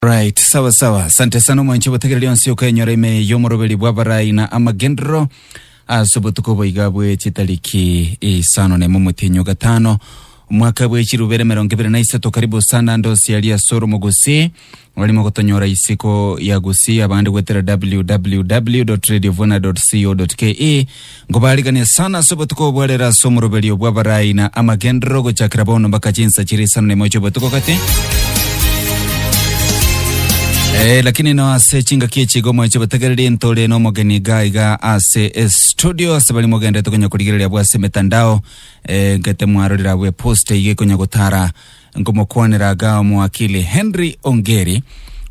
Right, sawa sawa. Asante sana omwanche obotegera rionsi okenyora ime y'omoroberi bw'abarai na amagenderero ase obotuko boiga bwe chitariki isano na emo omotenyo gatano omwaka bwe chirubere emerongo ebere na isato karibu sana ndosi yari ase oromo gusii orimo gotonyora isiko ya gusii abande gwetera www.radiovuna.co.ke Nkobaarigania sana ase obotuko obo arere ase omoroberio bw'abarai na amagenderero ogochakera bono mpaka chinsa chiria isano na imo chi'obotuko gati. Eh, lakini no ase chingaki echi iga omweche obotegereri ntore n'omogeni iga iga ase estudio ase bari mogenderete konya korigereria abwo ase emetandao eh, nkete mwarorire abwo epost iga ekonya gotara Nkomokwanera aga Omowakili Henry Ongeri.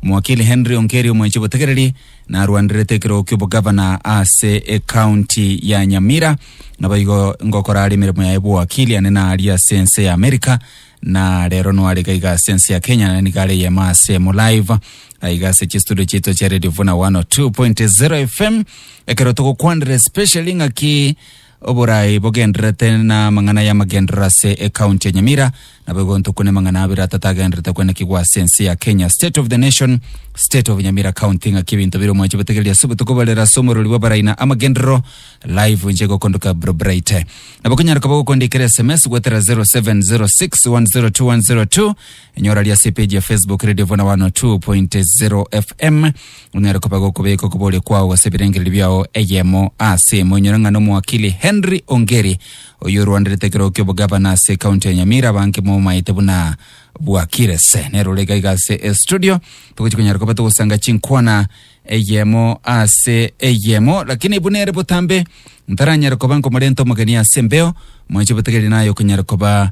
Omowakili Henry Ongeri omwenche botegereri narwanerete ekerogo ki'obogavana ase ekaunti ya Nyamira. Naboigo ngokora are emeremo yaye bw'owakili ane naaria ase ense ya Amerika na rero nware gaiga ase ense ya Kenya naende nigo are eyemo ase mo live aiga ase chistudio chiaito chia Radio Vuna 102.0 FM ekero togokwanera especially ng'aki Oboraai bogendererete na amang'ana y'amagenderero ase ekaunti ya Nyamira nabo igontwa kune mang'ana abere atato agendererete kwenekigwa ase ense ya Kenya, State of the Nation, State of Nyamira County. Ng'aki ebinto bire omwancho botegereri ase obotuko bwa rero ase omorori bw'abarai na amagenderero, Live inche igokondoka Bro Brighte. Nabo okonyaroka bagokondikera sms goetera 0706 102 102 Enyora ria ase epeji ya Facebook Radio Vuna 102.0 FM. Onyare koba gokobeka okobore kwao ase ebirengererio biao eyemo ase emo. Enyora ng'a n'omoakili Henry Ongeri oyo orwanderete ekeroo ki'obogavana ase ekaunti ya Nyamira abange momaete buna bwakirese. Nero ore iga iga ase estudio togochi konyara koba togosanga chinkwana eyemo ase eyemo lakini buna ere botambe ntaranyare koba nkomorenta omogeni ase embeo mwanche botegereri naye okonyara koba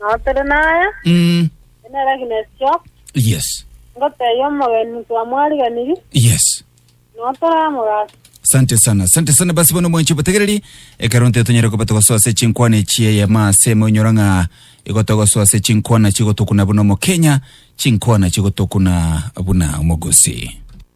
Nao tore naya, Mm. ende nere Agnes Jock, Yes. ngotebia omogeni twamwariganirie, Yes. nao toramogasa. Asante sana, asante sana basi bono mwanchi obotegereri ekero nte tonyere koba togosoa ase chinkwana echi eyemo ase emo onyora ng'a igo togosoa ase chinkwana chigotokuna buna omokenya chinkwana chigotokuna buna omogosi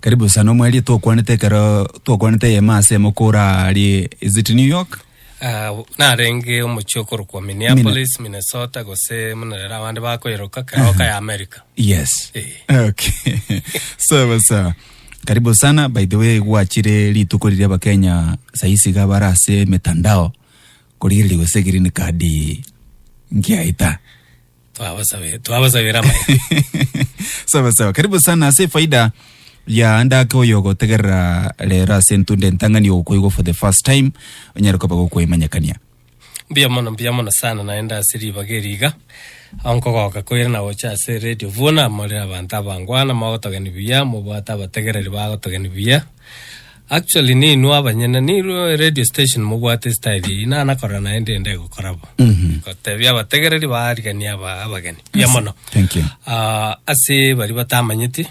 Karibu sana omweerie twokwanete ekero twokwanete eyemo ase emo kora ari is it New York Ah, narenge omochie okorokwa Minneapolis, Minnesota gose muna rero abande bakoyeroka keroka ya America. yes Eh. okay sawa sawa karibu sana by the way gwachire rituko riria abakenya saisi iga bara ase mitandao korigereria gose green card ngiaita Twabasabe- twabasabera amaene. sawa sawa karibu sana ase efaida ya ndake oyo ogotegerera rero ase entunda entang'ani ogokoigwa for the first time onyare koba gokoimanyekania mbuya mono mbuya mono sana naende ase ribaga eri iga ao nkogoka koira na gocha ase radio buna more abanto abangwana mogotogeni buya mobwate abategereri bagotogeni buya Actually ninwe abanyene ninwe radio station mobwate style eye na nakora naye ndende gokora bo. Mhm. Gotebia abategereri barigania aba abageni. Ya mono. Thank you. Ah, ase bari batamanyeti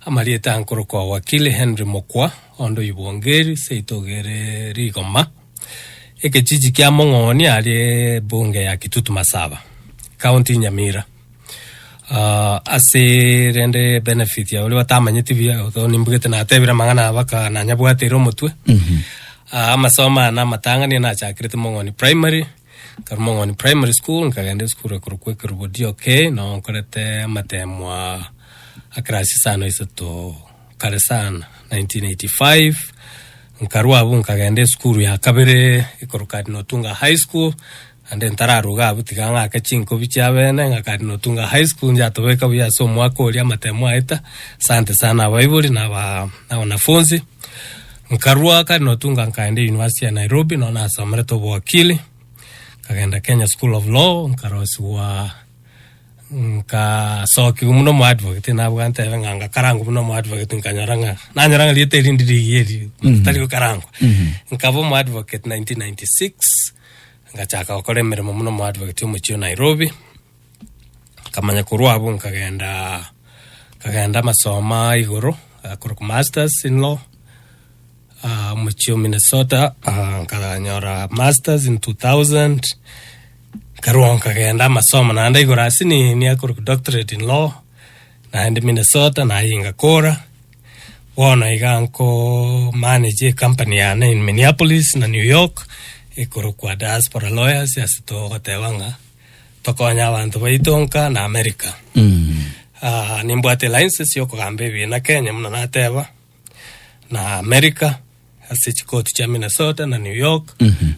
amarieta nkorokwa wakili Henry Mokwa ondo ibongeri seito gere rigoma ekechiji kia Mong'ooni arie bunge ya Kitutu Masaba county Nyamira. Ah ase rende benefit ya oria otamanyeti buya ekero nimbugete natebire amang'ana aba ka nanyabwateire omotwe ah amasomo aya na amatang'ani nachakirete mong'oni primary nkarwa mong'oni primary school nkagenda esukuru ekorokwa ekerubo DOK noo nkorete amatemo aa akirasi isano isato kare sana 1985 nkarwa abwo nkagenda esukuru ya kabere ekero Cardinal Otunga high school Naende ntararuge abwo tiga ng'ake chinkobi chiabene ngakande notunga high school njatobeke buya ase omwaka oria amatemo aeta asante sana abaibori na wanafunzi nkarua kare notunga nkaenda university ya Nairobi no nasomerete obowakili nkagenda Kenya school of law nkarosigwa nkasokigwa muno omo advocate nabwate ebe ng'a ngakarangwa muno omo advocate nkanyora ng'a nanyora ng'a rieta erinde rigieri tari gokarangwa nkaba omo advocate 1996 Ngachaka gokora emeremo buna omoadvocate omochie o Nairobi, nkamanya korwa abwo nkagenda nkagenda amasomo a igoro ah, korokwa masters in law ah, omochie o Minnesota ah, nkanyora masters in 2000 nkarwa nkagenda amasomo naende igoro ase ni niakorokwa doctorate in law naende Minnesota naye ngakora Bono iga nkomanage ecompany yane in Minneapolis na New York ekorokwa Diaspora Lawyers ase togoteba ng'a tokonye abanto baito nka na America. Ah, nimbwate license yokogamba ebiina Kenya buna nateba na America ase chikoti chia Minnesota na New York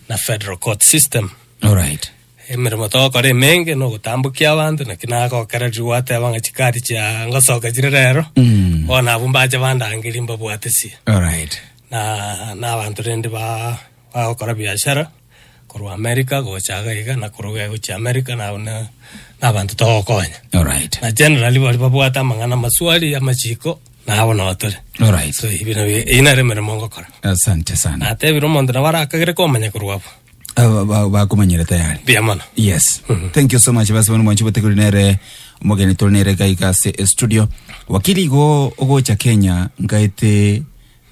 na federal court system. Alright. Emeremo togokora emenge nogotambokia abanto naki nagokererirwe gwateba ng'a chikari chia ngosoka chire rero bono abwo mbache bandangerie mbabwatesie Alright. na na abanto rende ba bagokora biashara korwa America gocha iga iga na korwa iga gochia America nabo na na abanto togokonya Alright. na generally bari babwate amang'ana amaswali amachiko nabo nabo tore Alright. so ebi nabio eyio nere emeremo ngokora Asante sana. natebire omonto nabo arakagere komanya korwa abwo Aba- ba- bakumanyire tayari Mbuya mono. yes thank you so much basi bano mwanchi botegori nere omogeni tore nere gaiga ase estudio wakili igo ogocha kenya ngaete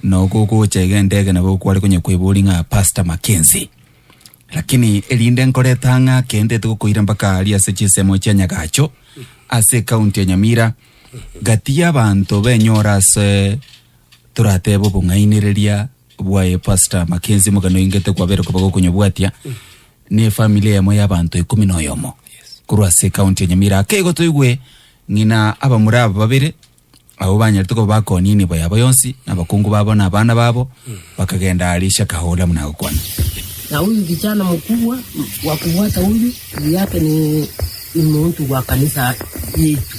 nogogocha iga endege nabo kware konya kwebori ng'a pastor makenzi lakini erinde nkoreta ng'a kende togokoira mpaka aria ase chisemo chia nyagacho ase county ya nyamira gati y'abanto benyora ase toratebe obong'ainereria bwaye pastor makenzi mokano ingete kwabere koba gokonyobwatia ne family eyemo ya abanto ikumi na oyomo korwa ase county ya nyamira akeigo toigwe ng'ina abamura aba babere abo banyarete koba bakonia enibo yabo yonsi na abakungu babo na abana babo bakagenda arisha kahola buna agokwana Na huyu kijana mkubwa wa kufuata huyu juu yake ni, ni mtu wa kanisa yetu.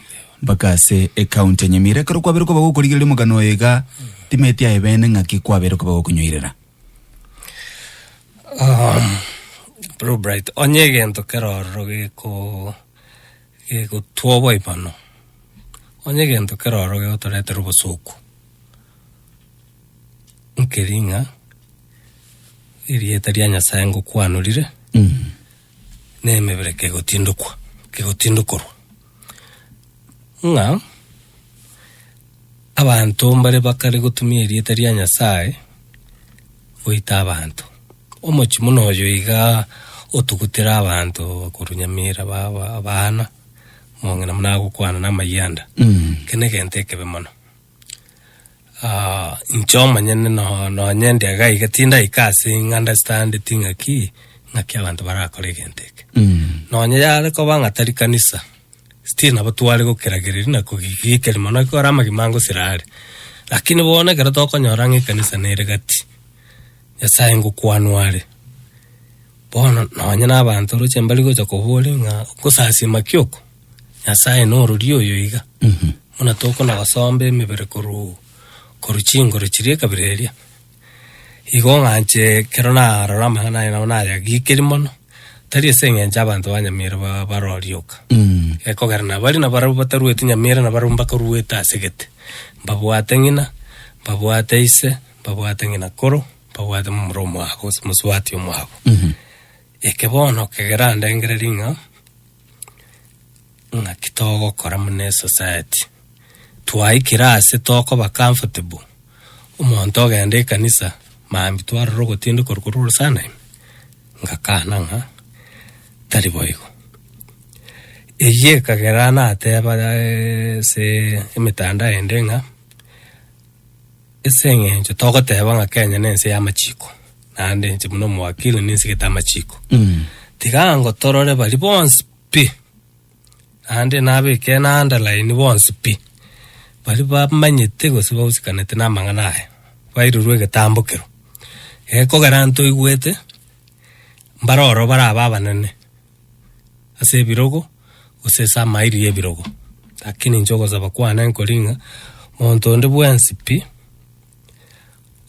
mpaka ase ecounty enyamira ekero kwabere koba gokorigereria omogano oyo iga timeti aye bene ng'aki kwabere koba gokonyoirera Um, Blue Bright, onye egento keroro geko gegotwa oboimano, onye egento keroro gegotoretera obosuku, nkeri ng'a erieta ria Nyasae ngokwanorire, na emebereka egotindokwa, kegotindokorwa. ng'a abanto mbare bakare gotumia erieta ria Nyasae goita abanto. Omochie buna oyo iga otugutera abanto bakorwa Nyamira baba abana, omong'ina buna agokwana na amayanda. Eke negento ekebe mono. Ah inche omonyene no nonye ndiaga iga tindaika ase ing'andastaandeti ng'aki ng'aki abanto barakore egento eke Mm. nonye yare koba ng'a tari kanisa still nabo tware gokeragereria na kogigikeri mono ekero are amagima angosira are lakini bono ekero tokonyora ng'a ekanisa nere gati nyasaye ngokwanwa are bono nonye na abanto oroche mbari gocha koboria ng'a okosasima ki oko Nyasae norori oyo iga, buna tokona gosomba emebere korwa korwa chinguru chiria ekabira eria. Igo ng'anche ekero narora amang'ana aye nabo nayagikiri mono, tari ase eng'encho abanto ba Nyamira ba- barorie oka, gekogera na baria nabarabwo bataruete Nyamira nabarabwo mbakoruete ase gete, mbabwate ng'ina, mbabwate ise, mbabwate ng'ina koro, mbabwate momura omwabo gose mosubati omwabo. Eke bono kegerandengereria ng'a. ng'aki togokora muna esociety twaikire ase tokoba comfortable omonto ogenda ekanisa mambi twarora ogotindi korwa korwa orosanaim ngakana ng'a tari boigo eyio ekagera nateba ase emetandao ende ng'a. As'engencho togoteba ng'a Kenya nense y'amachiko, naende inche buna omowakili ninsigete amachiko. Tiga ango torore baria bonsi pi, naende nabeke eunderline bonsi pi, baria bamanyete gose bahusikanete namang'ana aya, bairurwe egetambo kero. Ekogera ntoigwete, mbare ororo barabe abanene. ase ebirogo, gose ase amairi y'ebirogo. Lakini inche ogosaba kwane nkori ng'a, monto onde bwensi pi,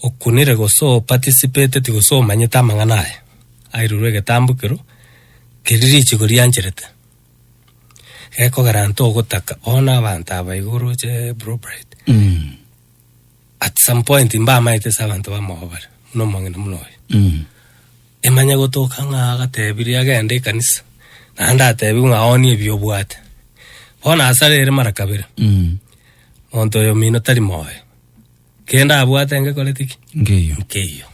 okunire gose o participateti gose omanyete amang'ana aya, airurwe egetambo ekero, keria richigo riancherete, gekogera ntogotaka bono abanto aba iga oroche Brookside. At some point mbamaete ase abanto bamogo bare buna omong'ina buna oyo. Emanye gotoka ng'a agatebirie agende ekanisa naende atebiwe ng'a onie ebi obwate. Bono asare ere mara kabere. Monto oyo omino tari moyo. Kende abwate engekorete ki? Nkeiyo. Nkeiyo.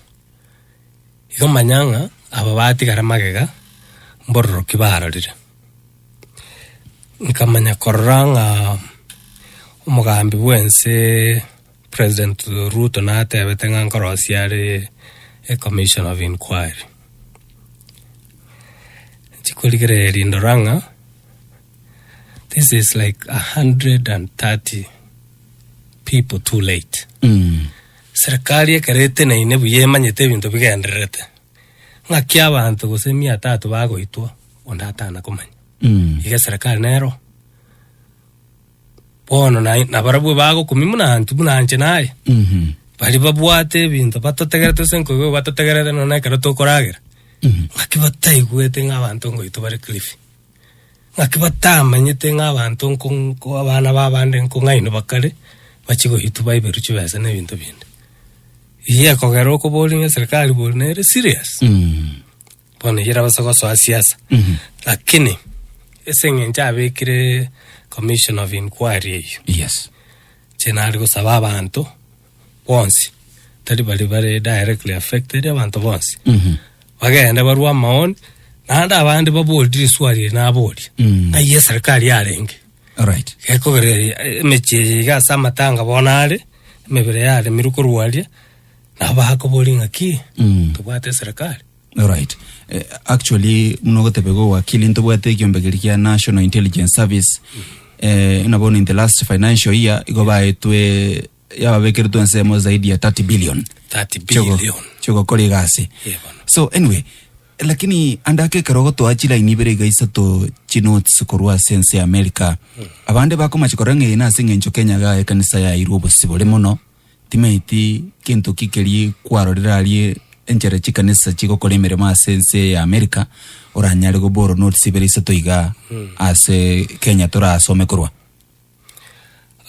Igo manya ng'a aba batigare magega mbororoki barorire. Nkamanya korora ng'a omogambi bwense President Ruto natebete ng'a nkorosia are e commission of inquiry. Chikorigereria ndora ng'a this is like a hundred and thirty people too late. Serikari ekero eteneine buya emanyete ebinto bigendererete, ng'aki abanto gose mia tatu bagoitwa onde atana komanya. Iga eserekari nero bono na- nabarabwo bagokumia buna intwe buna inche naye bari babwate ebinto batotegerete gose nkoigwa batotegerete nonya ekero tokoragera ng'aki bataigwete ng'a abanto ngoitwa bare Kilifi. Naki batamanyete ng'a abanto nko nko abana b'abande nko ng'aino bakare bachie goitwa baiberwe chibesa na ebinto binde. Eyio ekogera okoboria ng'a eserikari bori nere serious? Bono eyio erabase gosoa siasa. Lakini ase eng'encho abekire commission of inquiry eyio, Yes. inche nare gosaba abanto bonsi, tari baria bare directly affected, abanto bonsi Mhm. bagende barwe amaoni naende abande baborire eswari eye naboria Mm. ng'ai eserikari yarenge Alright. gekogera emechie eye iga ase amatanga bono are emebere yaremirwe korwaria nabo bakoboria ng'aki Mm. tobwate eserikari Alright. Eh, actually muno ogotebeka owakili ntobwate ekiombe keri kia National Intelligence Service eh, ina bono in the last financial year igo baetwe yababekeretwe ensemo zaidi ya 30 billion 30 Chego- billion. chegokora egasi Eh, bono. so anyway lakini andake ekero gotoa chilaini ibere iga isato chinotes korwa ase ense ya america abande bakomache korora ng'a eye nase eng'encho kenya ga ekanisa yairwe obosibore mono Timaeti kento ki keria kwarorire aria enchera chikanisa chigokora emeremo ase ense ya Amerika, oranyare goborwa notes ibere isato iga ase Kenya torasome korwa.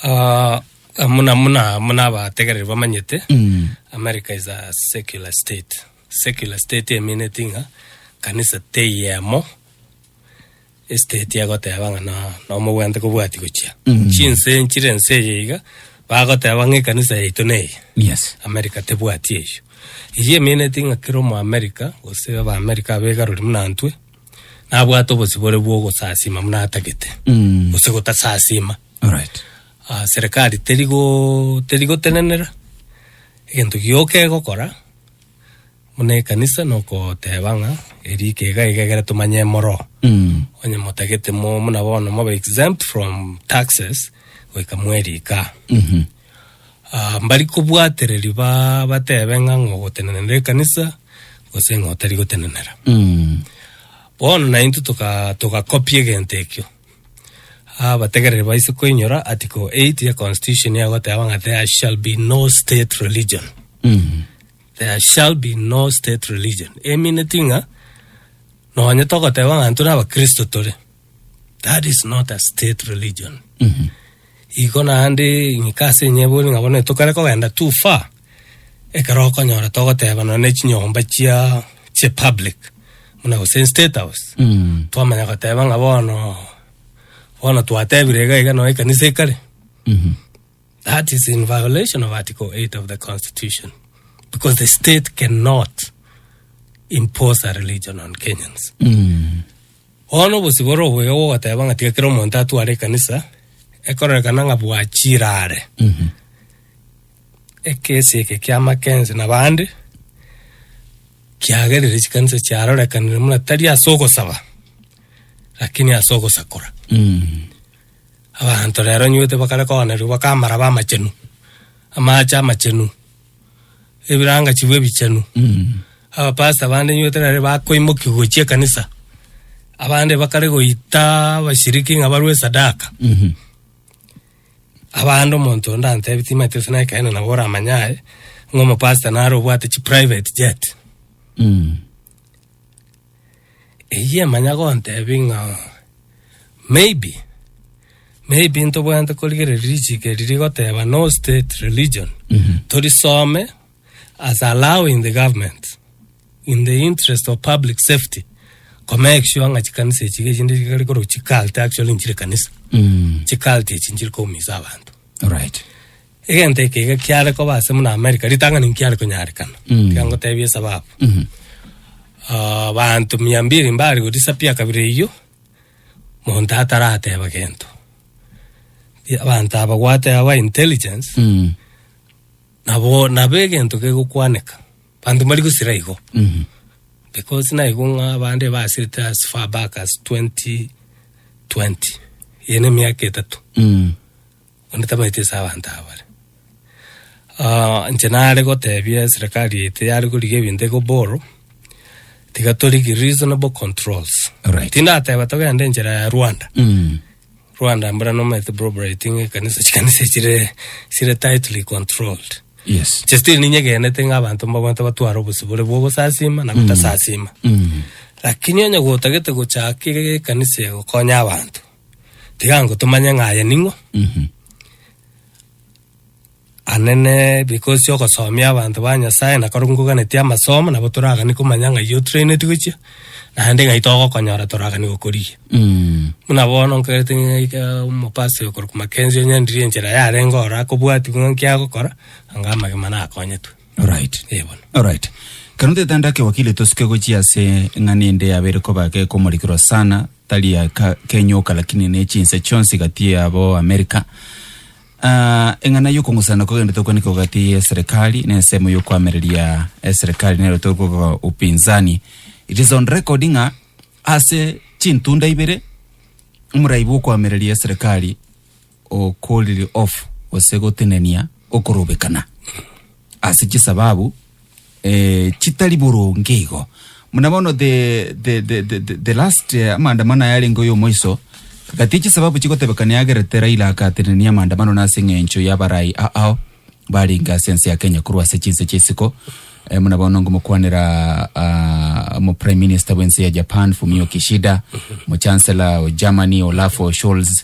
Ah, muna muna muna abategereri bamanyete Mm. America is a secular state. Secular state emineti ng'a kanisa teyemo Esiteti egoteba ng'a no- nomogwente kobwati gochia chinse enchire ense eye iga, bagoteba ng'a ekanisa yaito neye. Yes. America tebwati eyio. Eyio emeaneti ng'a kera omoamerica gose abaamerica abegarori buna intwe, nabwate obosibore bwa ogosasima buna atagete, Mm. gose gotasasima. Alright. Ah, serekari teri go- teri gotenenera egento gioka egokora. Buna ekanisa nokoteeba ng'a eria ekega iga egere tomanye emoro. Onye motagete mo muna bono mobe exempt from taxes goika mwerika. Ah, mbari kobwatereri ba bateebe ng'a ng'o ogotenenera ekanisa gose ng'a otari gotenenera. Bono naintwe toka toka copy egento ekio. Abategereri baise koinyora article eight ya constitution egoteeba ng'a there shall be no state religion. There shall be no state religion emineti ng'a nonye togoteba ng'a ntore abakristo tore that is not a state religion igo naende ing'ika ase enyebori ng'a bono etokare kogenda too far ekero okonyora togoteba nonye na chinyomba chia chia public buna gose state house twamanya goteba ng'a bono bono twatebire iga iga nonye ekanisa ekare That is in violation of Article 8 of the Constitution because the state cannot impose a religion on Kenyans. Ono obosibore obuya bwogoteba ng'a tiga kera omonto atware ekanisa ekororekana ng'a bwachire are. Ekesi eke kia Mackenzie na bande kiagerire chikanisa chiarorekanire muna tari ase ogosaba lakini ase ogosakora. Abanto rero nyoite bakare koonerigwa baka amaraba amachenu, amaache amachenu, ebirangachigwa ebichenu. Abapasta bande nyoite nere bakoimokigwa gochia ekanisa, abande bakare goita abashiriki ng'a barwe esadaka. Abande omonto onde antebi timanyete gose nekeene nabo oramanye aye, ng'a omopasta nare obwate chiprivate jet. Eyie manya gontebi ng'a maybe, maybe ntobwenerete korigereria richiko eri rigoteba no state religion, torisome as allowing the government in the interest of public safety ko make sure ng'a chikanisa echi iga chinde chikare korwa chi cult actually nchire kanisa, chi cult echi nchire koumisa abanto. Alright. Egento eke iga kiare koba ase muna Amerika, ritang'ani nkiare konyarekana. Mm. Tiga ngotebie esababu. Mhm. Ah, banto mia mbiri mbare godisappear kabira eyio, monto atarateba gento. Ti- Abanto aba gwate aba intelligence, Mm. nabo nabo egento gegokwaneka. Banto mbari gosira igo. Mhm. because naigo ng'a abande basete as far back as 2020 eye na emiaka etatu Mm. Onde tabaeti ase abanto aba bare. Aa, inche nare gotebia eserekari ete yare korigia ebinto iko borrow, tiga torigie reasonable controls. Alright. Tindateba togende enchera ya Rwanda. Mm. Rwanda mbura nomaete probrating ekanisa, chikanisa chire, chire tightly controlled. Yes. Inche still ninyegenete ng'a abanto mbabwate batware obosibore bwa ogosasima na gotasasima. Mm. Lakini onye gotagete gochaka ekanisa egokonya abanto, tiga ango tomanye ng'a aye ning'o Mhm. anene because cia ogosomia abanto ba nyasaye na kero ngoganeti amasomo nabo toragani komanya ng'ai otraineti gochia naende ng'ai togokonyora toragani gokorigia Mm. buna bono nkorete ng'aika omopasa oyo korokwa makenzi onyandirie enchera yarenge oro akobwati buna nki agokora anga amagima nakonyetwe Alright, eh, bono. Alright. Kero tetanda ake wakili tosuke gochia ase ng'ani ende yabere koba ke komorikirwa sana tari ya ka, kenyoka lakini ne chinse chionsi gati yabo America. Ah, eng'ana yokong'usana kogende tokwaneka gati ye serikali ne ensemo yokoamereria e serikali nero tokoga upinzani. It is on record ng'a ase chintunda ibere omoraibu okoamereria serikali o cooled off gose gotenenia okorobekana ase chisababu eh, chitari boronge igo muna bono the, the, the, the, the, the last eh, amaandamano aya arenge oyo omoiso gati chisababu chigotebekana yagerete raila akatenenia amaandamano na ase eng'encho yabarai aao barenge ase ense ya kenya korwa ase chinse chisiko eh, muna bono ngomokwanera ah, omo prime minister bw'ense ya japan fumio kishida mochancellor o germany olafo scholz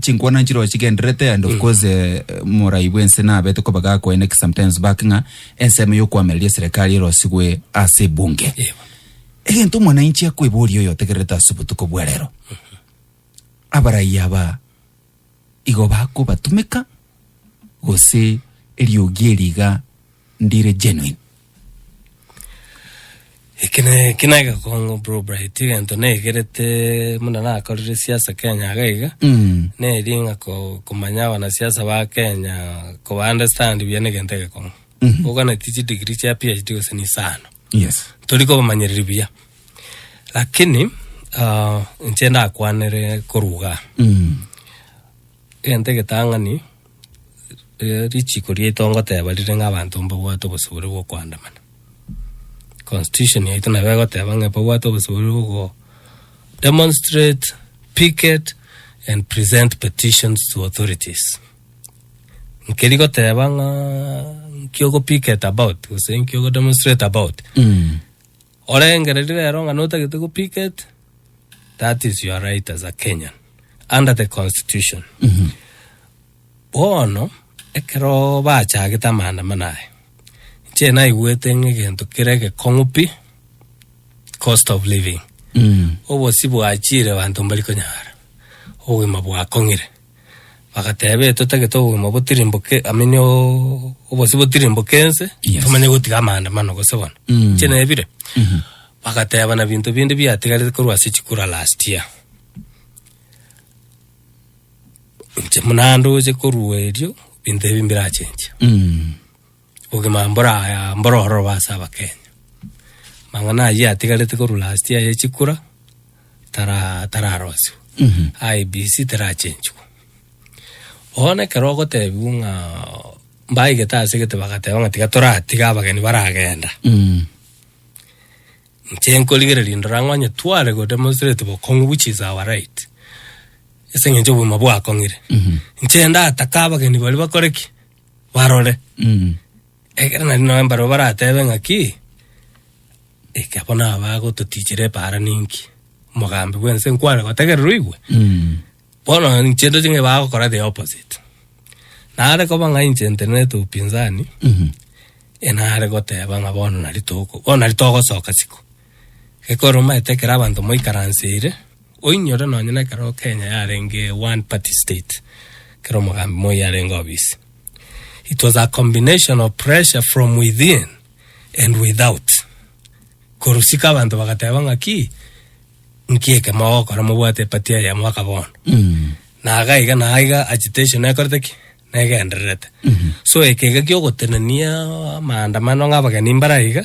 chinkwana nchire ochigenderete and of mm. course eh, morai bwense nabete koba gakoeneke sometimes back ng'a ensemo yokwamereria serikali erosigwe ase ebunge egento omwananchi akweboria oyo otegererete ase obotuko bwa rero abarai aba igo bakobatumeka gose eriogi eriga ndire genuine Eki ne eki ne egekongo bro bright egento naigerete muna nakorire siasa kenya iga iga Mm. neri ng'a ko- komanya abanasiasa ba kenya koba understand buya na egento egekongo Mhm. oganeti chidigiri chia phd gose na isano Yes. tori kobamanyereri buya lakini ah, inche ndakwanere korwa igaa Mm. egento egetang'ani richiko riaito ngoteba rire ng'a abanto mbabwate obosubore bwa okoandamana. Constitution yaito nabo egoteba ng'a mbabwate obosubore bwa ogo demonstrate, picket and present petitions to authorities. Nkeri goteba ng'aa nki ogo picket about gose nki ogo demonstrate about Orengererie rero ng'a notagete go picket that is your right as a Kenyan under the constitution bono ekero bachagete amaandamano aya inche naigwete ng'a egento kere egekong'u pi cost of living obosi bwachire abanto mbari konyara obogima bwakong'ire. Bagateeba, Ee, totagete obogima botirimboke, amini obosio botirimboke ense, Yes. tomanye gotiga amaandamano gose bono. Mm. Inche nebire. Bagateeba, na binto binde biatigarete korwa ase chikura last year. Inche buna ndoche korwa erio, binto ebi mbirachenche. Mm. Obogima mboraya mborororo ase Abakenya. Amang'ana ayio atigarete korwa last year ye chikura tara tararosiwa. IEBC terachenchiwa. Bono ekero ogotebiwa ng'a mbaigete ase egete bagateba ng'a tiga toratiga abageni baragenda. Inche nkorigereria ndore ang'e onye tware go demonstrate bokong'u which is our right ase eng'encho obogima bwakong'ire. Inche ndatake abageni baria bakore ki? barore. Mm. Ekero nari noe mbaro baratebe ng'aki, eke bono abagototichire epaara ninki? Omogambi bw'ense nkwane gotegererwa igwe? Mm. Bono inche ndoche ng'a bagokora the opposite. Nare koba ng'a inche ntenenete upinzani, Mhm. enare goteba ng'a bono nari toko, bono nari togosoka isiko. Ekero omaete ekero abanto moikaranseire, Oinyore nonye nekero Kenya yarenge one party state kero omogambi Moi arenge obisi it was a combination of pressure from within and without korusika abanto bagateba ng'aki nki eke mogokora mobwate epati eyemo aka bono mm. na agaiga na aiga agitation ekorete ki negendererete mm -hmm. so ekega kiogotenenia maandamano ng'abageni mbaraiga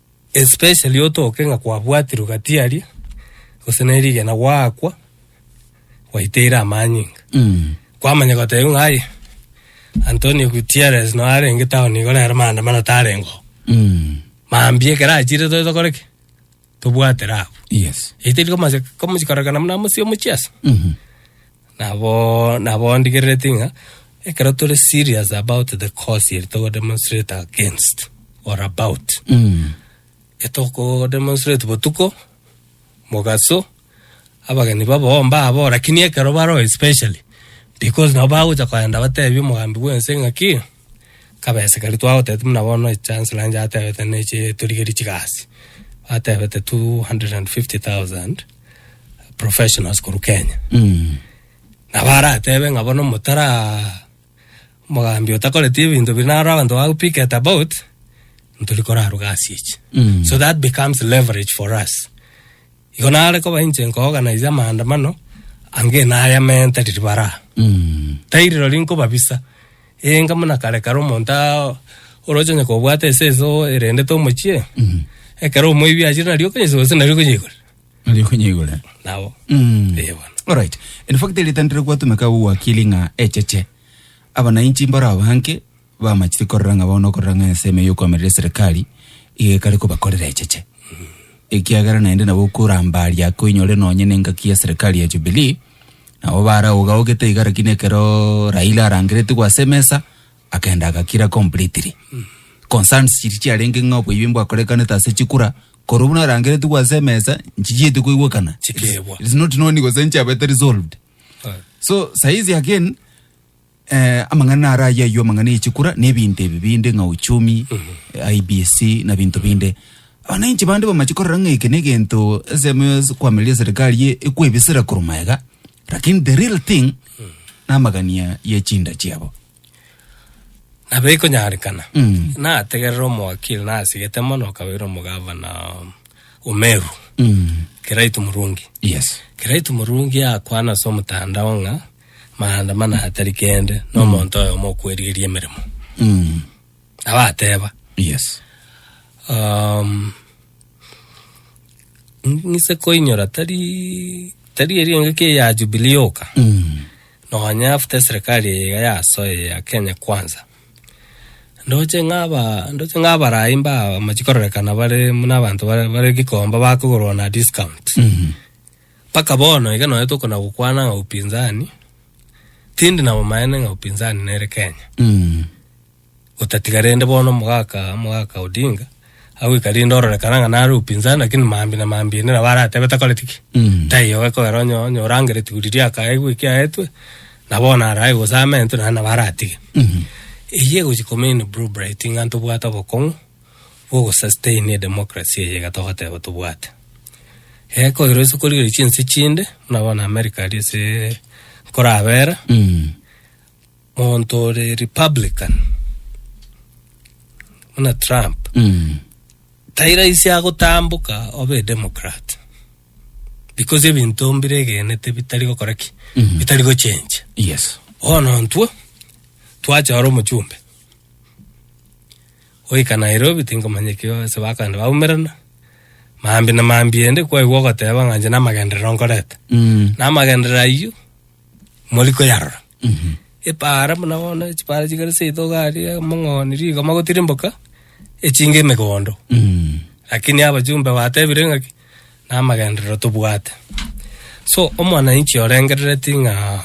Especially otoke ng'a kwabwatirwe gatiari gose ne rigena gwaakwa gwaiteire amanyinga kwamanya gotebiwa ng'a aye Antonio Gutierrez no arenge town igo rero maandamano tarengo mambia ekero achire tobe tokore ki tobwatere abwo yes eiteri komochia komochia korekana buna mosie omochiasi Nabo nabo ndigerereti ng'a ekero tore serious about the cause eri togo demonstrate against or about etoko demonstrate botuko mogaso abageni babao mbabao lakini ekero baroo especially because nabo bagocha kogenda batebi omogambi bwense ng'aki kabesa karia twagotebete buna bono echancellor onye atebete neche torigerie chigasi, atebete 250,000 professionals korwa Kenya. Nabo aratebe ng'a bono motara mogambi otakoreti ebinto bi naro abanto ba picket about, ntori koraruga ase echi. So that becomes leverage for us. Igo nare koba inche nkooganaize amaandamano ange nayamente riria baraa. Tari rirorio nkobabisa, ee, inga buna kare kare omonto a- oroche onye kobwata eseso erendete omochie, ekero omoibi achire nario okonyesuka gose nario okonyeigorera. Nario okonyeigorera. Nabo. Mm. Ee, bono. Alright. In fact, eritangere gwatumeka owakili ng'a echeche. Abananchi mbarao bange bamachire korora ng'a bono okorora ng'a ensemo y'okoamerera eserekari iga ekare kobakorera echeche ekiagera naende nabo okorambaria koinyore nonye na engaki ya serikali ya Jubilee nabo baraogaogete iga lakini ekero Raila arangeretigwe ase emesa akenda agakira completely concerns chiria chiarenge ng'a oboibi mbwakorekanete ase chikura korwa buna arangeretigwe ase emesa nchichiete koigwekana Chikegwa. It's not known gose nchabete resolved so saizi again Eh, amang'ana naro ayio ayio amang'ana ye chikura na ebinto ebi binde ng'a uchumi eh, IBC na binto binde abananchi bande bamache korora ng'a eke negento SMS kwamereria serikali ye ekwebisira korwa maega lakini the real thing na amagania ye chinda chiabo nabo ikonyarekana Mm. nategerera omowakili nasigete mono okabeire omogavana omeru mm. kiraitu murungi yes kiraitu murungi akwana ase omotandao ng'a maandamano atari kende na omonto oyomo okwerigeria emeremo Mm. nabo ateba Yes. um, ng'ise koinyora tari tari eri engaki eye ya jubilee yoka Mm. nonya after eserikali eye iga yasoa eye ya kenya kwanza ndoche ng'aba ndoche ng'abarai mba amachikororekana bare muna abanto bare bare gikomba bakogorwa na discount Mm. Mpaka bono iga nonya tokona gokwana ng'a upinzani, tindi na bomaene ng'a upinzani nere Kenya. Otatiga rende bono mogaka mogaka Odinga agoika rinde ororekana ng'a nare upinzani lakini mambi na mambi ende nabo aratebe takoreti ki taiyo gekogera onye onye orangere tiguru riria akaegwe kiaetwe na bono arae gose amentwe naende nabo aratige. Eyio egochi komeini Blue Bright ng'a ntobwate obokong'u. bw'ogosustaini edemokrasi eye iga togoteba tobwate. Ee koirwa ase korigereria chinse chinde, buna bono America aria ase nkorabera, monto ore republican buna Trump, tairaisi agotamboka obe edemocrat because ebinto mbiregenete bitari gokora ki? Bitari gochencha. Yes. Bono intwe, twachora omochumbe, Goika Nairobi tinkomanya ekio ase bakogenda baumerana, maambia na maambia ende kwaigwa ogoteba ng'a inche namagenderero nkorete. Mm. Na amagenderero ayio mori koyarora. Epaara buna bono chipaara chigare seito gari amang'oni rigoma gotirimboka echinga emegondo. Mm. Lakini abajumbe batebire ng'aki namagenderero tobwate. So omwananchi orengerereti ng'a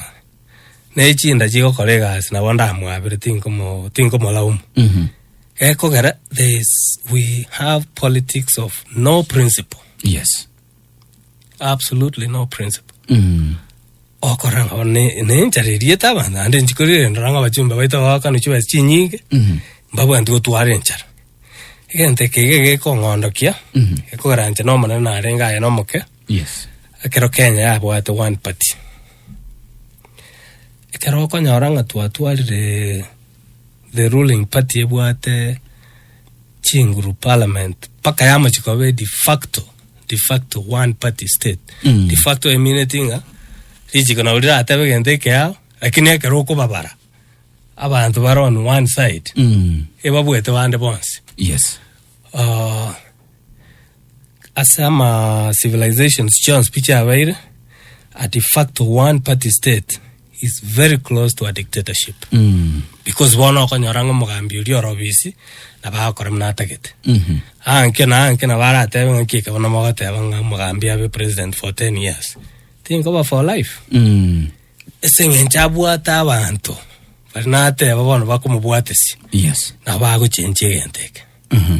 ne chinda chigokora egasi nabo ndamwabire tinkomo tinkomolaumu Mhm. gekogera there is we have politics of no principle yes absolutely no principle Mhm. okorora ngabo ne- nenchara eriete abanto ande nchikorire ndora ng'a abachumba baito bagokana chiba chinyinge Mhm. mbabwanti gotwara enchara egento eke iga gekong'ondokia Mhm. ekogeranche na omonene narenge aye na omoke yes ekero kenya yabwate one party Ekero okonyora ng'a twatwarire the ruling party ebwate chinguru parliament mpaka yamochia koba e de facto, de facto one party state Mm. de facto emineti ng'a richiko nabo riratebe egento eke yao lakini ekero okobabara abanto bare on one side Mm. ebabwete bande bonsi Yes. Ah, ase ama civilizations chionsi pi chiabeire at fact one party state is very close to a dictatorship Mm. because bono okonyora ng'a omogambi oria ore obisi na bagokora muna atagete Mhm. anke na anke na baratebe ng'a kieka bono mogoteba ng'a omogambi abe president for 10 years tinkoba for life Mm. ase eng'encho abwate abanto bari nateba bono bakomobwatesia Yes. nabo bagochenchia egento eke Mhm.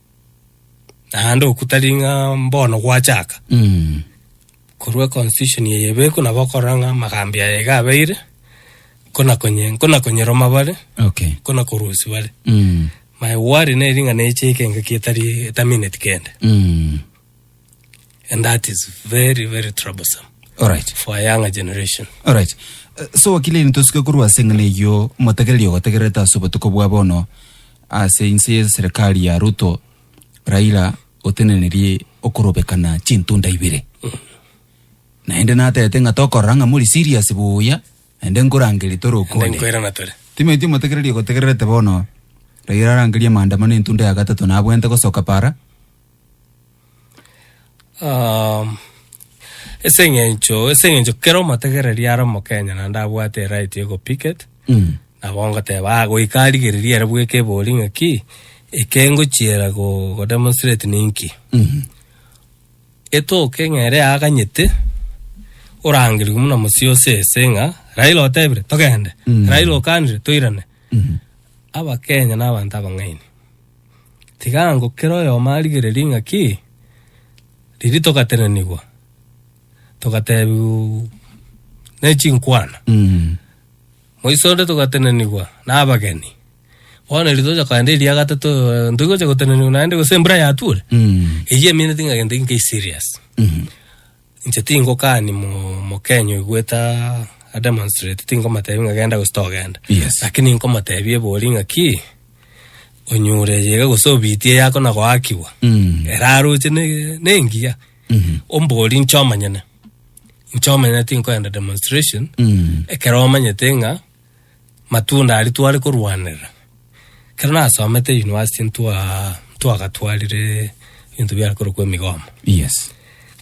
naende oku tari ng'a mbono gwachaka Mm. korwa constitution eye ebekwa nabo okorora ng'a amagambi aya iga abeire nkona konye nkona konyeroma bare Okay. nkona korusia bare Mm. my worry neri ng'a neche ekenga ki etari etamineti kende Mm. And that is very, very troublesome Alright. for a younger generation. Alright. Eh, So wakili nitosike korwa ase eng'ana eyio motegereri ogotegerete ase obotuko bwa bono ase inse ye serikali ya Ruto Raila otenenerie okorobekana chintunda ibere naende natete ng'a tokorora ng'a muri serious buya naende nkorangeria tore And then okonde koirana tore. timaiti motegereri ogotegerete bono Raila arangeria maandamano entunda ya gatato nabwente gosoka para um, ase eng'encho ase eng'encho kera omotegereri are omokenya naende abwate erite ya ogopicket Mm. nabo ngoteba "Ah, goika arigereria ere bweka ebori ng'aki eke ngochiera go- godemonstrate ninki Mhm. etoke ng'a ere aganyete orangerigwe muna mosie ose ese ng'a raila otebire togende Mm. raila okanire toirane Mhm. abakenya na abanto abang'aini Tiga ango kera oyomo arigererie ng'a ki riria togatenenigwa, togatebiwa ne chinkwana. Moiso onde togatenenigwa nabageni. Bono riria tocha kogenda eria ya gatato, eh, ntoigocha gotenenigwa naende gose embura yatwore? Eyio emeanete ng'a gento eke nkai serious. Inche tingokani mo, Mokenya oigwete a, a demonstrate, tinkomotebi ng'a genda gose togenda. Yes. Lakini nkomotebi ebori ng'a ki, onyure eyega gose obiti eyako na goakigwa. Mm. Eraroche ne, nengiya. Mhm. Ombori inche omonyene. Inche omonyene tinkoenda demonstration. Mm. Ekero omanyete ng'a Matunda aria tware korwanerera, ekero nasomete university ntwa ntwagatwarire ebinto biare korokwa emigoma. Yes.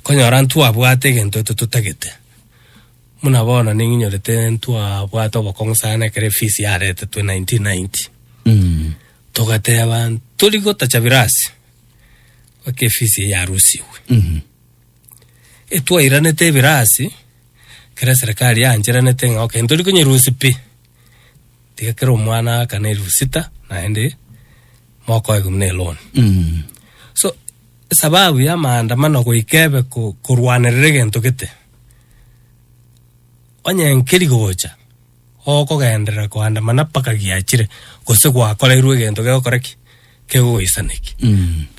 Konyora ntwabwate egento eto totagete. Muna bono ning'inyorete ntwabwate obokong'u sana ekero efees yaretetwe 1990. Mm. Togateba tori gotacha birasi. Mpaka efees eye yarusiwe. Mhm. etwairanete ebirasi, ekero eserekari yancherenete ng'a okay ntori konyerusia pi, tiga kera omwana akane elfu sita naende mokoe buna eloni. So esababu ya amaandamano goika ebe ko- korwanerera egento gete, onye nkeri gocha. okogenderera koandamana mpaka giachire, gose gwakoreirwe egento gegokora ki? Kegoisana ki.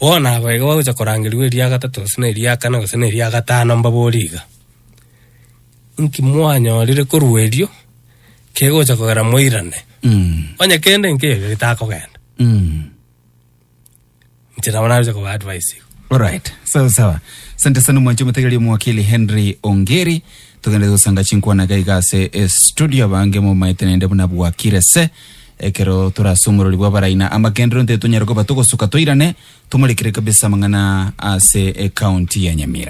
Bono aba iga bagocha korangerigwa eria gatato gose na eria kana gose na eria gatano mbabore iga, Inki mwanyorire korwa erio kegocha kogera moirane? Onye kende nkeiyo getakogenda. nche nabo narusia koba advice igo. Alright, sawa sawa. Sante sana mwanche mutegereria omwakili Henry Ongeri. Tugende gusanga chinkwana iga iga ase e studio abange momaete naende buna bwakire se ekero torasumorori bwa baraina amagenderero nte tonyare koba togosuka toirane tomorekere kabisa amang'ana ase e county ya Nyamira.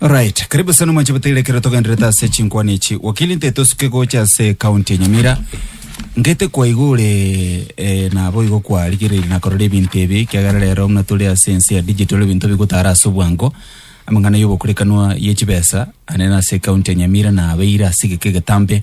Alright, karibu sana mwanche bataire ekero togenderete ase chinkwana echi wakili nte tosuke gocha ase county ya nyamira ngete kwaigwa ore eh, nabo igo kwarigereiri nakorora ebinto ebi kiagera rero muna tore ase ense ya digital ebinto bigotara ase obwango amang'ana ya obokurekanwa ye chibesa anene ase county ya nyamira nabeire ase egeka egetambe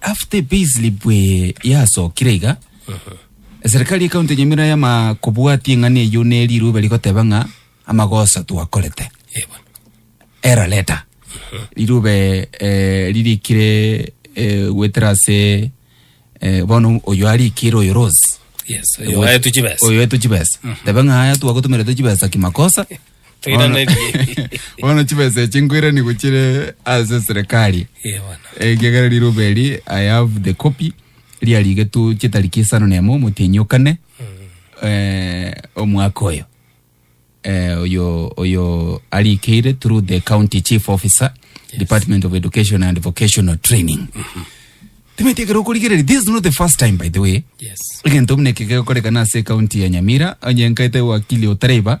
After payslip eye yasokire iga eserikari ya kaunti ya nyamira yama kobwatia eng'ani eyio ne riru bari goteba ng'a amagoso twakorete Eh, bono. era leta rirube eh, ririkire eh, gwetera ase eh, bono oyo arikire oyo rose Yes, oyo aetu chibesa. oyo etu chibesa tebe ng'aya twagotomerete chibesa kimakosa Bono- bono chibesa echi nkoirani gochire ase serikali Eh, bono. ekiagera riroba eri i have the copy riarigetu chitariki isano na emo omotienyi okane eh, omwaka oyo eh, oyo oyo arikeire through the county chief officer department of education and vocational training timeti ekero okorigereria this is not the first time by the way Yes. egento buna eke gegokorekana ase ekaunti ya nyamira onye nkaete wakili otareba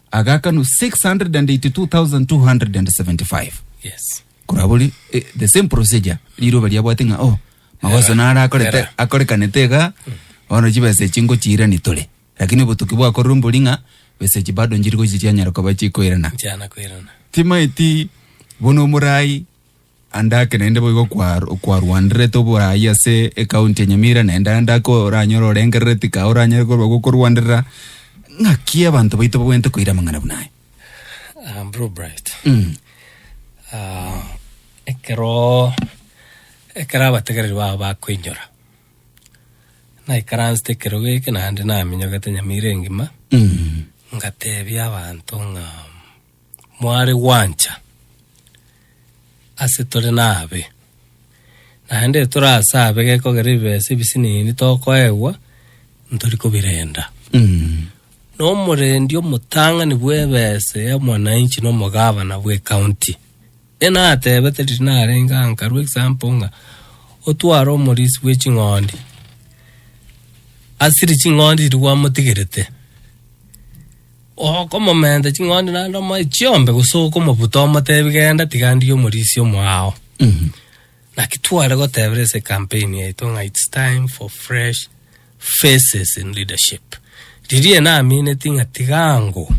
agakanwa 682,275 Yes. korabori eh, the same procedure riroba riabwate ng'a oh magoso Era, narakorete era. akorekanete iga bono chibesa echi ngochiirani tore lakini obotuki bwakorire mbori ng'a besa echi bado njiri gochiria nyara koba chikoirana Nchana koirana. timaeti bono omorai Ande ake naende boigo kwa- kwarwanderete oboraai ase ekaunti ya Nyamira, naende ande ake oranyore orengerere tika oranyare korwa gokorwanderera. Ng'aki abanto baito babwenerete koira amang'ana buna aya? Ah, Blue Bright. Mm. Ah, ekero ekero abategereri bao bakoinyora naikaransete ekero geke naende naminyogete Nyamira engima Mm. ngatebia abanto ng'a mware gwancha ase tore nabe. Naende etore ase abe gekogera ebibesa ebisinini tokoegwa ntori kobirenda. Na omorendi omotang'ani bw'ebesa ya mwananchi na omogavana bw'ecounty enatebete riria narenge aa nkarwa example ng'a otware omorisi bwe ching'ondi asiri ching'ondi riria gwamotigerete. Okomomenta ching'ondi naende omoe chiombe, gose okomobuta omotebi genda tiga ndie omorisia omwao. Naki tware gotebera ase campaign yaito ng'a it's time for fresh faces in leadership. Riria namineti ng'a tiga ngoo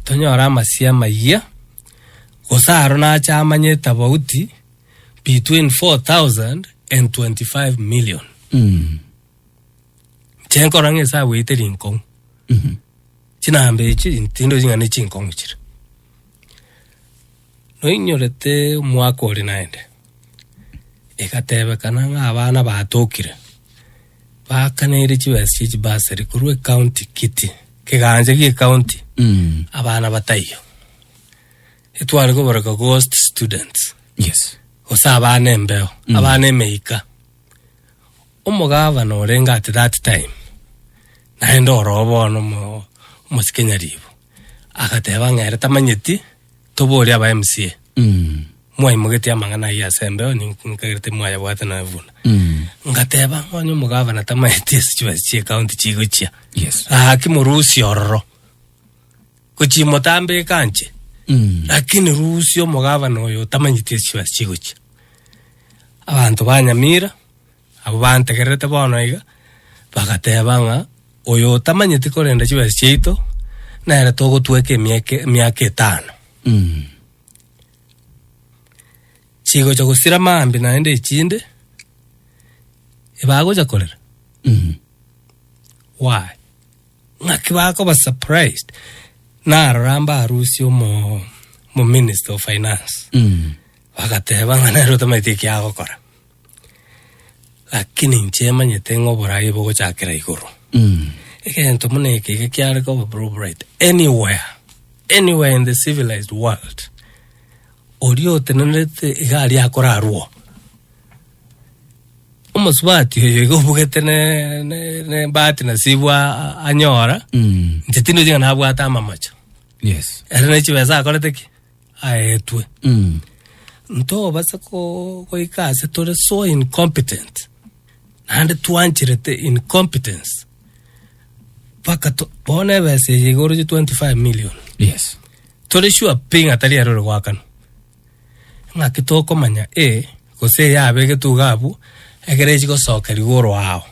tonyore amasio amayia, gose aro nache amanye etafauti between 4000 and 25 million. Chenkora ng'a esabu yaito eri nkong'u. Mhm. Chinamba echi tindochi ng'a ne chinkong'u chire. Noinyorete omwaka ore naende, egatebekana ng'a abana batokire, baakanere chibesa chia echibursary korwa ecounty kiti, kegancha gie ecounty, Mm. abana bataiyo. Etware koboreka ghost students, Yes. gose abana embeo, abana emeika. Omogavana orenge at that time, naende oroo bono omo, omosike nyariibo, agateba ng'a ere tamanyeti, toborie aba MCA. Mwaimogetie amang'ana ayio ase embeo, nink- nkagera timwayabwate nonya buna. Ngateba ng'a onye omogavana tamanyeti ase chibesa chia ecounty chigochia, Yes. gaki morusie ororo. Gochia motambeka anche, lakini rusia omogavana oyo otamanyeti ase chibesa chigochia. Abanto banyamira. Abwo bantegererete bono iga bagateeba ng'a, Oyo otamanyeti korenda chibesa chiaito, nere togotweka emiaka emiaka etano. Chigocha gosira mambia naende echinde, ebagocha korera. Why? Ng'aki bakoba surprised narora mbarusia omo omominister of finance, bagateeba ng'a nere otamanyeti ekiagokora. Lakini inche manyete ng'a oboraai bogochakera igoro. Mm. Egento buna eke iga kiare koba bro bright anywhere anywhere in the civilized world oria otenenerete iga aria akorarwo omosubati oyo iga obugete ne- ne- nebahati nasibu a- anyora Mm. inche tindi ochiga nabwate amamacho Yes. ere ne chibesa akorete ki aetwe. Mm. Ntobase ko- goika ase tore so incompetent. Naende twancherete incompetence. Paka to- bono ebesa eye igoro ye 25 million. Yes. Tore sure pi ng'a tari erore gwakana. Ng'aki tokomanya e gose yabegetwe iga abwo egere echi gosoka rigoro ao.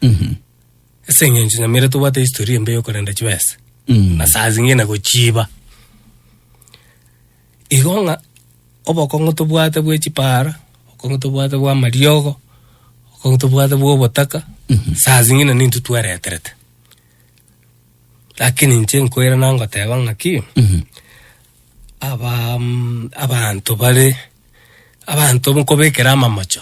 Mhm. Ase eng'encho nyamera tobwate historia embe yokorenda chibesa Mm. na saa zingine gochiiba igo ng'a obokong'u tobwate bwe chipaara obokong'u tobwate bwa amariogo obokong'u tobwate bwa obotaka saa zingine nintwe twereterete lakini inche nkoira nangoteba ng'aki Mhm. aba mm, abanto bare abanto nkobekera amamocho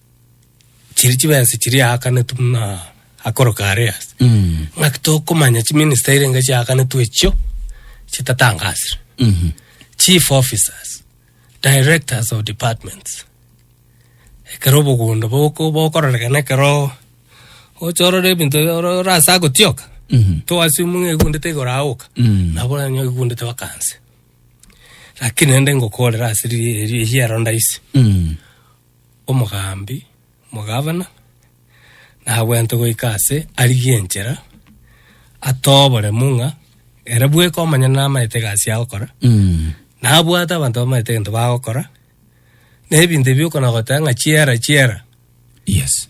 chiri chibensi chiri aakanetu buna akoro kare ase Mm. ng'aki tokomanya chiminista irenge chiaakanetu echio chitatangasire Mhm. chief officers directors of departments ekero obogondo boko- bokororekana ekero ocha orore ebinto oro- ore ase agotioka Mhm. toasimu ng'a egundete igoro aoka Mm. nabo oranyo egundete bakanse lakini rende ngokorera ase ri- ri- riero ndaisi Mm. omogambi, omogavana, nagwente goika ase arigie enchera, atoe oboremu ng'a ere bweka omonyene namaete egasi agokora, Mm. nabwate abanto bamaete egento bagokora, na ebinto ebi okona goteba ng'a chiera chiera, Yes.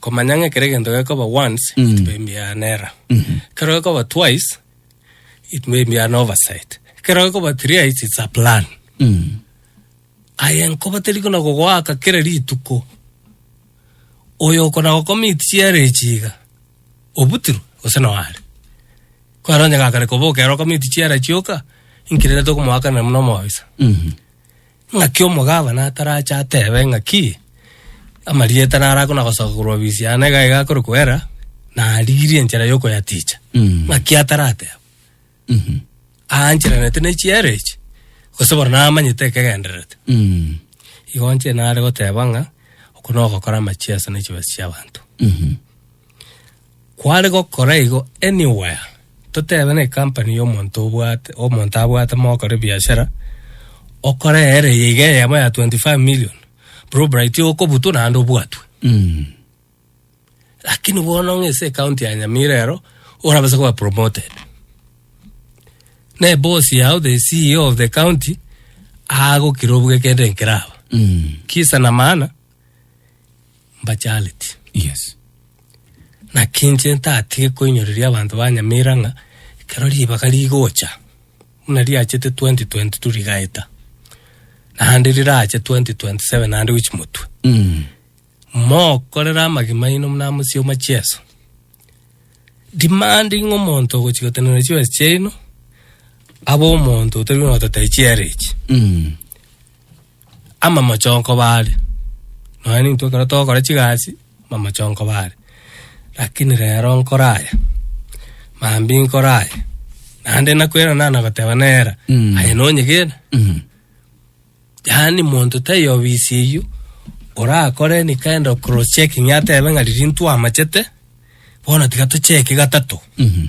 komanya ng'a ekero egento gekoba once mm. it may be an error mm -hmm. ekero gekoba twice it may be an oversight ekero gekoba thrice it's a plan mm. aye nkoba teri kona gogoaka kera rituko oyo okona gokomit chiere echiga obutiru gose noare kwaro onye gakare koboka ero okomit chiere chioka inkirere tokomoakana muna omobisa mm -hmm. Naki omogabana atarache atebe ng'aki amarieta narako na gosoka korwa ofisi yane iga iga akore koera, narigirie enchera yokoyaticha. Mm. Ng'aki atarateba. Mhm. Aancheranete ne chiera echi, gose bono namanyete ekegendererete. Mm. Igo nche nare goteba ng'a, oko nogokora amachiaso na chibesa chiabanto. Mhm. Kware gokora igo anywhere, totebe na ecompany ya omonto obwate omonto abwate mogokora ebiashara, okore ere eye iga eyemo ya 25 million, Brubrit okobutwa naende obwatwe. Lakini bono ng'a ase ecounty ya Nyamira ero, orabase koba promoted. Na eboss yao the CEO of the county, agokira obuge kende nkiraba. Kisa na maana, mbachareti. Yes. Naki inche ntatige koinyoreria abanto ba Nyamira ng'a ekero ribaga rigocha buna riachete 2022 rigaeta naende rirache 2027 naende gochi motwe Mm. mokorere amagima aino muna mosioma chieso demanding omonto ogochi gotenena chibesa chiaino abe omonto otari nototai chiere echi Mm. amamochoko bare, nonya nintwe ekero togokora chigasi amamochoko bare, rakini rero nkore aya, mambia inkore aya, naende nakwena nana goteba nera Mm. aye nonyegena Mhm. yaani monto taiyo obisi eywo orakore any kind of cross checking atebe ng'a riria ntwamachete bono tiga tocheke gatato Mhm.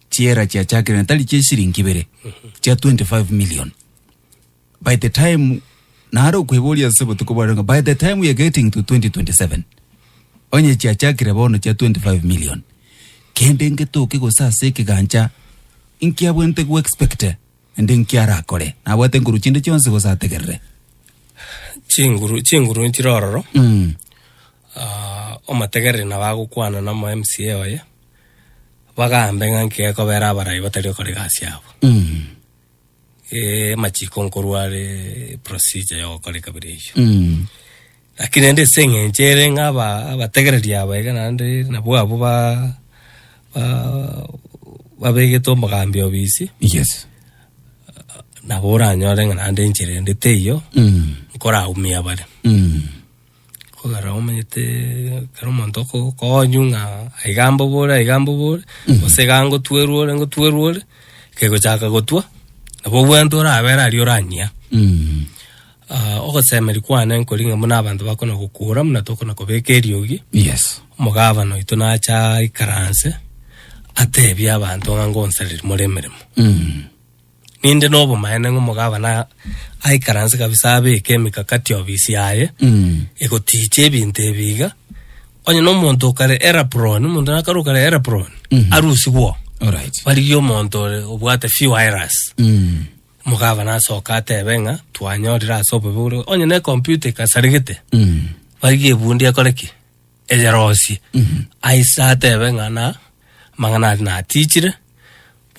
chiera chiachakerire tari chia eshiringi ibere chia 25 million by the time nare okweboria ase botuko bware ng'a, by the time we are getting to 2027 onye chiachakire bono chia 25 million kende ngetoke gose ase ekegancha nkiabwente go expect Naende inki arakore? Nabwate nguru chinde chionsi gose ategerere? Chinguru chinguru nchire ororo, Mm. ah, omotegereri nabo agokwana na omoMCA oye, bagaambe ng'a nki gekobera abarai batari gokora egasi yabo. Mm. Eh, amachiko nkorwa are procedure ya ogokora ekabira eyio. Mm. Lakini naende ase engencho ere ng'a aba abategereri aba iga naende nabwo abwo ba ba babegetwe omogambi obisi, Yes. nabo oranyore ng'a naende enchera ende teiyo Mm. nkoraumia bare. Mm. Kogera omanyete ekero omonto oko- okonywa ng'a aiga mbobore aiga mbobore, gose iga ngotwerwa ore ngotwerwa ore, kegochaka gotwa, nabo obwenerete orabere aria oranyia. Mm. Ogosemeria kwane nkori ng'a buna abanto bakona gokuura buna tokona kobeka eriogi, Yes. omogabana oito nacha aikaranse, atebie abanto ng'a ngonsareria more emeremo. Mm. Ninde nobomaene ng'a omogabana aikaranse kabisa abeke emikakati obisi yaye, Mm. egotiicha ebinto ebi iga, onye na omonto okare Elapron, omonto nakare okare Elapron, Mhm. arusigwe oo. Alright. Barigie omonto ore obwate few iras. Mm. Omogavana asoka atebe ng'a twanyorire ase obobe bore onye ne computer ekasaregete baiga ebundi ekore ki eyerosie aise atebe ng'a na amang'ana aria natichire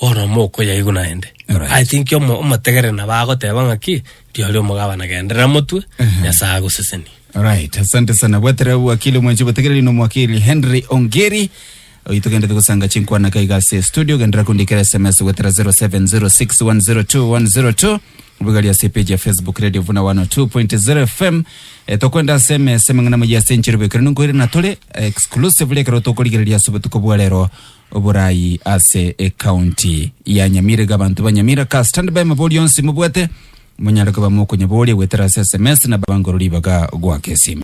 bono mokoyaigwa naende Alright. I think omo- omotegere nabo agoteba ng'a ki riori omogavana genderera motwe nyasaye agosesenie Alright, asante sana bweterera wakili omwenchi botegereri no mwakili Henry Ongeri Oyio togenderete gosanga chinkwana iga iga ase studio gendera kundikera sms gwetera 0706102102 bugari ase page ya facebook radio vuna 102.0 fm e, tokwenda ase emese mang'ana moyia ase enchero bekero ninkoire na tore exclusively ekero tokorigereria ase obotuko bwa rero oborayi ase ecounty ya nyamira iga abanto ba nyamira ka stand by mabori onsi mobwate monyare koba mokonyaboria gwetera ase sms na bangoro ribaga gwaka esime